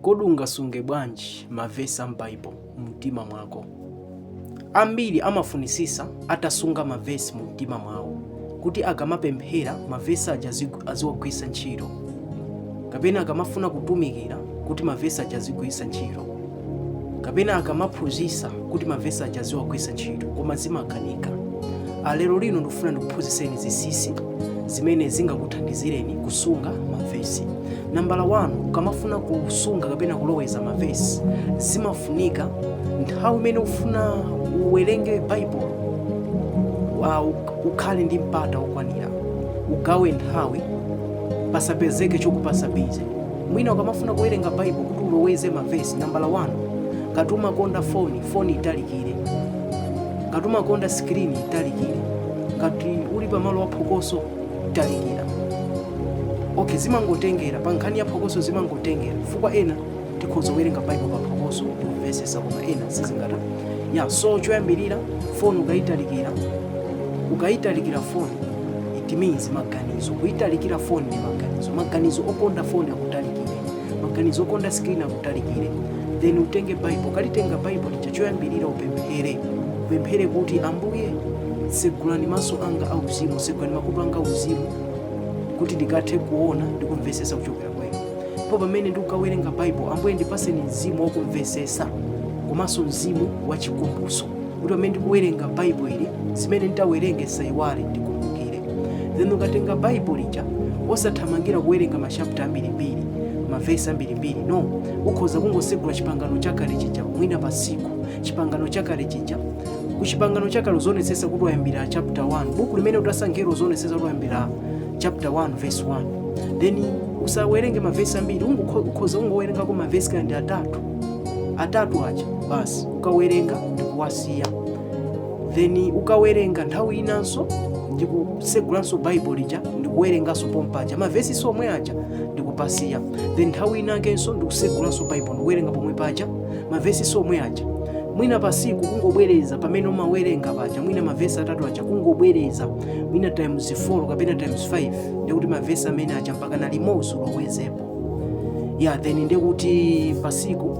Kodi ungasunge bwanji mavesi a m'Baibo mumtima mwako? Ambili amafunitsitsa atasunga mavesi mumtima mwawo kuti akamapemphela, mavesi aja aziwagwilitsa nchito, kapena akamafuna kutumikila kuti mavesi aja azigwilitsa nchito. kapena akamaphunzisa kuti mavesi aja aziwagwisa ntchito koma zimakanika lero lino ndikufuna ndikuphunziseni zisisi zimene zingakuthandizireni kusunga mavesi nambala 1 ukamafuna kusunga kapena kuloweza mavesi zimafunika nthawi imene ufuna uwerenge baibulo wa- ukhale ndi mpata wokwanira ugawe nthawi pasapezeke chokupasa bize mwina ukamafuna kuwerenga baibulo kuti uloweze mavesi nambala 1 ngati umakonda foni foni italikire ngati umakonda sikirini italikire ngati uli pamalo aphokoso talikira okay zimangotengera pa nkhani ya phokoso zimangotengera chifukwa ena tikhoza kuwerenga baibulo pa phokoso kumvesesa koma ena sizingathe ya so choyambirira foni ukayitalikira ukayitalikira foni it means maganizo kuitalikira foni ndi maganizo maganizo okonda foni akutalikire maganizo okonda screen akutalikire then utenge baibo ukalitenga baibo lija choyambirira upemphere upemphere kuti ambuye segulani maso anga auzimu segulani makutu anga auzimu kuti ndikathe kuona ndi kumvesesa kuchokera kwenu po pamene ndikukawerenga baibo ambuye ndipaseni mzimu wakumvesesa komanso mzimu wachikumbutso kuti pamene ndikuwerenga baibulo ili zimene nditawerenge nsaiwale ndikumbukire then ukatenga baibulo lija osathamangira kuwerenga machapta ambirimbiri mavesi ambirimbiri no ukhoza kungosegula chipangano chakale chija mwina pa siku chipangano chakale chija ku chipangano chakale uzionetsetsa kuti wayambira chapter 1 buku limene utasankhira uzionetsetsa kuti wayambira chapter 1 verse 1 then usawerenge mavesi ambiri ungokho- ukhoza ungowerengako mavesi kaya ndi atatu atatu aja basi ukawerenga ndikuwasiya then ukawerenga nthawi inanso ndikusegulanso baibulo lija ndikuwerenganso pompaja mavesi somwe aja ndikupasiya then nthawi inakenso ndikusegulanso baibulo ndikuwerenga pomwe paja mavesi somwe aja mwina pasiku kungobwereza pamene umawerenga paja mwina mavesi atatu aja kungobwereza mwina times 4 kapena times 5 ndikuti mavesi amene aja mpakana limodzi ulowezepo ya then nde kuti pasiku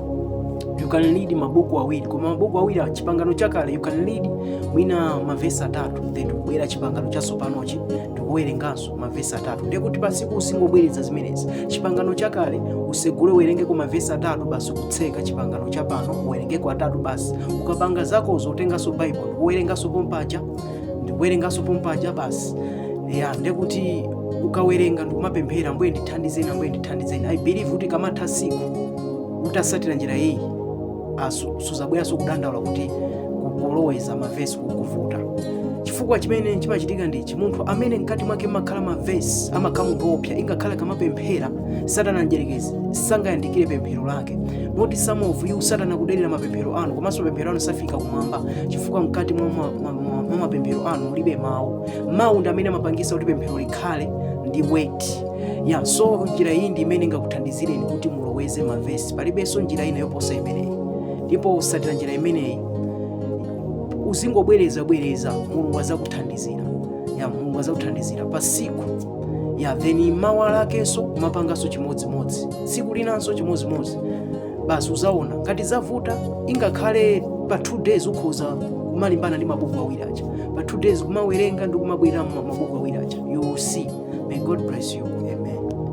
you can read mabuku awiri koma mabuku awiri chipangano chakale you can read mwina mavesi atatu then kubwera chipangano chatsopanochi ndikuwerenganso mavesi atatu nde kuti pasiku uzingobwereza zimenezi chipangano chakale usegule uwerengeko mavesi atatu basi kutseka chipangano chapano uwerengeko atatu basi ukapanga zako uzotenganso baibulo uwerenganso pompaja ndikuwerenganso pompaja basi ya ndekuti ukawerenga ndikumapemphera ambuye ndithandizeni ambuye ndithandizeni i believe kuti kamatha tsiku utasatira njira iyi asu- suzabweranso kudandaula kuti kuloweza mavesi kukuvuta chifukwa chimene chimachitika ndichi munthu amene mkati mwake mumakhala mavesi amakhala munthu wopsa ingakhale akamapemphera satana mdyerekezi sangayandikire pemphero lake moti some of you satana akudelera mapemphero anu komanso mapemphero anu safika kumwamba chifukwa mkati mwa ma- ma- ma- mwa mapemphero anu mulibe mawu mawu ndi amene amapangisa kuti pemphero likhale ndi weight ya so njira iyi ndi imene ingakuthandizireni kuti muloweze mavesi palibenso njira ina yoposa imeneyi ndipo usatira njira imeneyi uzingobwereza bwereza mulungu azakuthandizira ya mulungu azakuthandizira pasiku ya then mawa lakenso kumapanganso chimodzimodzi tsiku linanso chimodzimodzi basi uzaona ngati zavuta ingakhale pa two days ukhoza kumalimbana ndi mabuku awiri aja pa two days kumawerenga ndi kumabwerera mu mabuku awiri aja you will see may god bless you